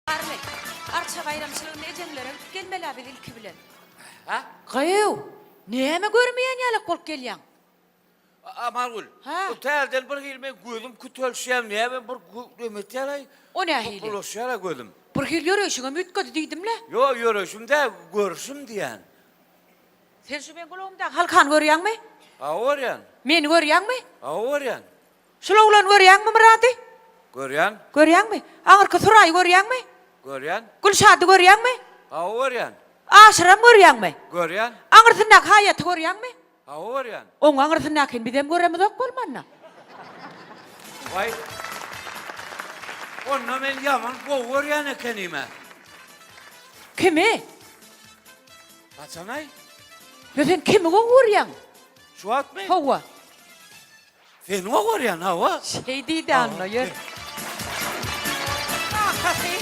Arly, arça baýramçylygyna ejeňlerem gelmel-ä biz ilki bilen. Hä? Gyýw, näme görmeýän ýalak bolup gelýäň? Amalgül, Hä? bu täzeden bir hili men gözüm kütelşýär, näme bir gü- neme etýär-aý? O nähili? Topbulaşýar-a gözüm. Bir hili ýöreýşiňem üýtgedi diýdim-le. Ýo, ýöreýşim däl, görşüm diýýän. Sen şu meň gulagymdaky halkany görýäňmi? Hawa, görýän. Meni görýäňmi? Hawa, görýän. Şul oglany görýäňmi, Myrady? Görýän. Görýäňmi? Aňyrky Suraýy görýäňmi? Görýän. Gülşady görýäňmi? Hawa, görýän. Aşyram görýäňmi? Görýän. Aňyrsyndaky haýaty görýäňmi? Hawa, görýän. Oň aňyrsyndakyny bizem göremizok bolmanda. Waý. Onda men ýaman gowy görýän ekenim-ä. Kimi? Haçanaý? Ýa sen kimi gowy görýäň? Şu wagtmy? Hawa. Sen o görýän hawa. Şeý diýdi Anna ýör. Kakasy.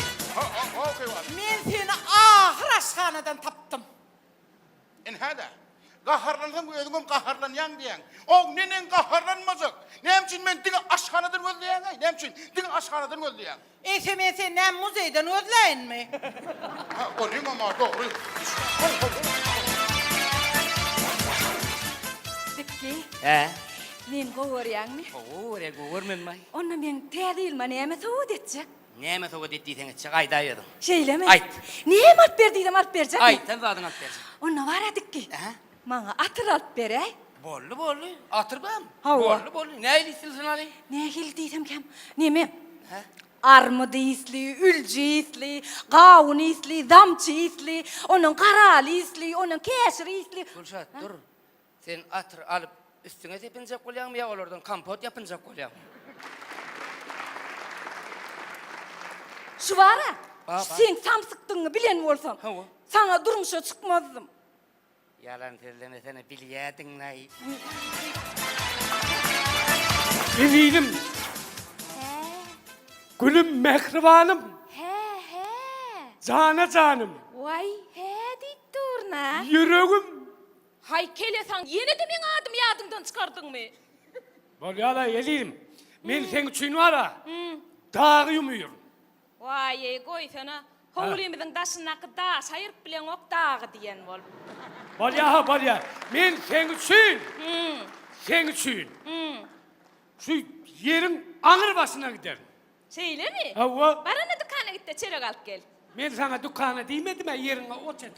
Men seni ahyr aşhanadan tapdym. Inhada. Gaharlansaň özüňem gaharlanýaň diýýäň. Ow neneň gaharlanmajak. Näme üçin men diňe aşhanadan gözleýäňaý. Näme üçin diňe aşhanadan gözleýäň. Sms-i näme muzeýden gözläýinmi? Hä, onuň hem a dogry. Bekgi. Hä? Meni gowy görýäňmi? Gowy görýän, gowy görmänmi-aý? Onda meň täze ýylyma näme sowgat etjek? Näme sowgat et diýseň etjek, aýdaýberiň. Şeýlemi? Aýt. Näme alyp ber diýsem alyp berjekmi? Aýdan zadyňy alyp berjek. Onda bar-a dikgi. Hä? Maňa atyr alyp beräý. Bolly bolly. Atyr bam? Hawa. Bolly bolly. Nähili isli synaly? Nähili diýsem kem. Neme? Hä? Armydy isli, ülji isli, gawun isli, zamçy isli, ondan garaly isli, ondan käşir isli. Gülşat, dur. Sen atyr alyp üstüňe sepinjek bolýaňmy ýa olardan kompot ýapynjak bolýaňmy? Şu bar-a, Ba, bar. sen samsykdygyňy bilen bolsam, Hawa. saňa durmuşa çykmazdym. Ýalan sözlemesene bilýädiňlaý. Eziziim. He. Gülüm mähribanym. He he. Jana janym. Waý he diýip durna. Ýüregim. Haý kelesaň ýenede meň adymy ýadyňdan çykardyňmy. Bolýala eziziim. Men seň üçin wara. Dagy ýumýaryn. Waýeý, goýsana, howlymyzyň daşyndaky daşy aýyryp bileňok dagy diýen bolup. Bolýa-ha, bolýa. Men seň üçin, seň üçin şu ýeriň aňry başyna giderin. Şeýlemi? Hawa. Bar onda dükana git-de, çörek alyp gel. Men saňa dükana diýmedim-ä, ýeriňe ot et.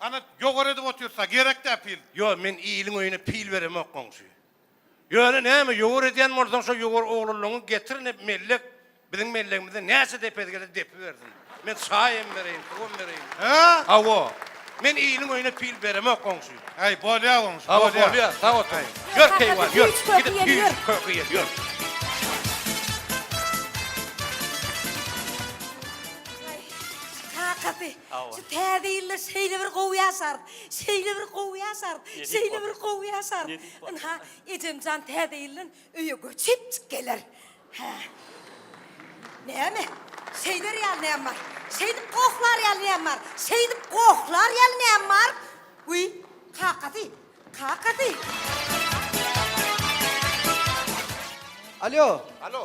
Ana jowar edip otyrsa gerek dä pil. Ýo men iliň öýüne pil beremok goňşy. Ýöne näme jowar edýän bolsaň şo jowar oglanlaňy getir ine mellek biziň mellegimize näçe depesi gelse depibersin. Men çaý hem bereýin suw hem bereýin. Hä? Hawa. Men iliň öýüne pil beremok goňşy. Äý bolýa goňşy bolýa. Hawa bolýa sag otur. Ýör keýwan ýör. Gidip tüýs köke ýer ýör. Aý kakasy. Şu täze ýylda şeýle bir gowy ýaşarys, şeýle bir gowy ýaşarys, şeýle bir gowy ýaşarys. Ynha, ejemjan täze ýyldan öýe göçüpjik geler. Hä. Näme? Şeýder ýaly näme bar? Şeýdip gohlar ýaly näme bar? Şeýdip gohlar ýaly näme bar? Wiý, kakasy, kakasy. Alýo. Alýo.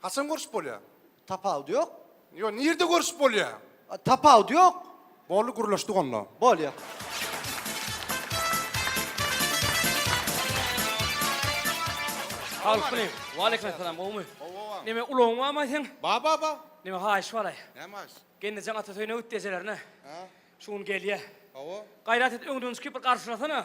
Haçan görüşip bolýar? Tapawudy ýok. Ýok, nirde görüşip bolýar? Tapawudy ýok. Boldy, gürleşdik onda. Bolýar. Sagalmaleýim. Waleýkim essalam, gowmy? Gowy, gowam. Neme, ulagyň barmy aýtsyn? Bar, bar, bar. Neme, haýyş baraý. Näme haýyş? Gelnejeň ata toýuna git ejelerine. Hä? Şu gün gelýär. Hawa. Gaýrat et, öňden çykyp bir garşylasana.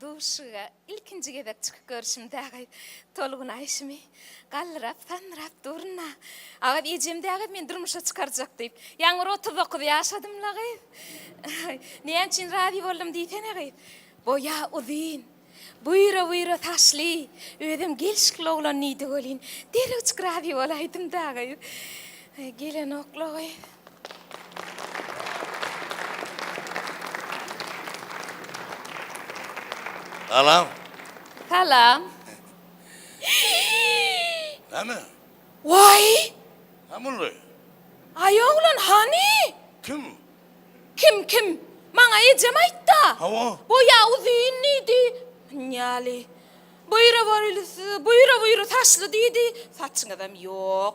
Duşga ilkinji gezek çykyp görşüm dägäý tolgun aýşymy galdyrap sandyrap durna agaz ejem dägäý meni durmuşa çykarjak diýip ýaňyr otuz dokuz ýaşadymla gyz näme üçin razy boldum diýsene gyz boýa uzyn buýra buýra saçly özem gelşikli oglan diýdi welin derewjik razy bolaýdym dägäý gelenokla gyz. Salam. Salam. Näme? Waý! Näme Aý oglan hany? Kim? Kim kim? Maňa ejem aýtda. Hawa. Boýa uzyn diýdi. Ýaly. Buýra borylysy, buýra buýra saçly diýdi. Saçyňyzam ýok.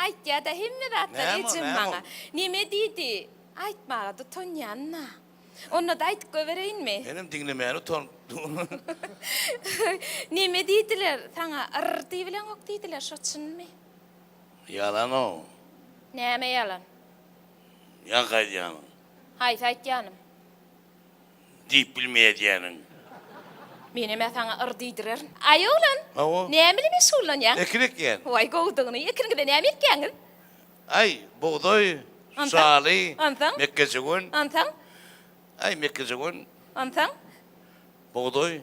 Aýtýada hemme zatlar ejem maňa. Neme diýdi? Aýtmaga-da utanýanyn-a. Onda-da aýdyp goýbereýinmi? Menem diňlemäni utanyp durun. Neme diýdiler? Saňa yr diýibileňok diýdiler, şo çynmy? Ýalan-ow. Näme ýalan? Ýaňky aýdýanyň. Haýsy aýtýanym? diýip bilmeýä diýýäniň. Menem-ä saňa yr diýdirerin. Aý, oglan, Hawa. näme bilen meşgullanýaň? Ekin ekýän. Waý, gowudygyny. Ekiniňizde näme ekýäňiz? Aý, bugdaý, Onsoň? şaly, Onsoň? mekgejöwen. Onsoň? Aý, mekgejöwen, Onsoň? bugdaý,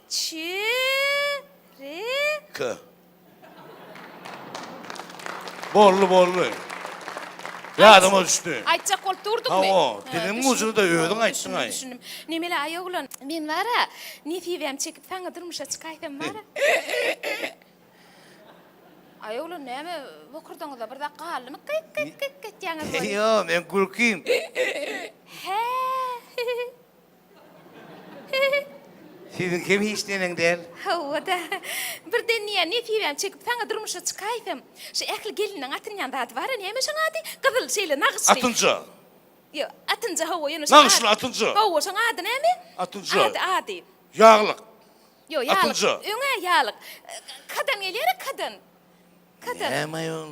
Çyryk. Boldy, boldy. Ýadyma düşdi. Aýtjak bolup durdukmy? Hawa, diliň ucunda özüň aýtdyň-aý. Düşündim. Nemele aý oglan, men bar-a, nesibäm çekip saňa durmuşa çykaýsam bar-a. Aý oglan, näme bokurdaňyzda bir zat galdymy, kyk-kyk-kyk etýäňiz weli? Ýok, men gürkýin. Hä. Siziňkem hiç neneň däl. Hawa-da. Birden diýýän Nesibäm çekip saňa durmuşa çykaýsam. Şu ähli gelinleň atynýan zady bar-a, näme şoň ady? Gyzyl şeýle nagyşly. Atynja. Ýok, atynja hawa, ýöne şoň ady. Nagyşly atynja. Hawa, şoň ady näme? Atynja. Ady, ady. Ýaglyk. Ýok, ýaglyk. Atynja. Öň-ä ýaglyk. Kadan gelýär-a, kadan. Kadan. Näme aýol?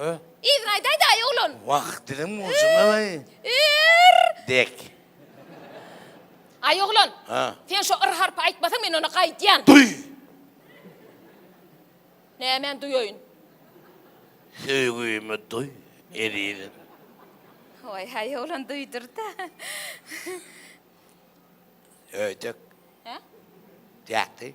Hö? Yzyny aýdaýdaý, oglan! Wah, diliň ujuna-laý! Ir! Dek. Aý, oglan! Hö? Sen şo ir harpy aýtmasaň, men ony gaýdýan! Duý! Nämeni duýaýyn? Söýgimi duý, ezizim! Waý-haý, oglan duýdur-da! Öýdek. Hö? Dek deý.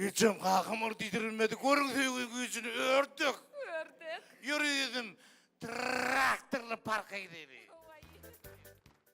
Ejem kakam ol diýdirilmedi görüň söýgi güýjüni ördek. Ördek. Ýöri ýüzüm traktorly parka gideli.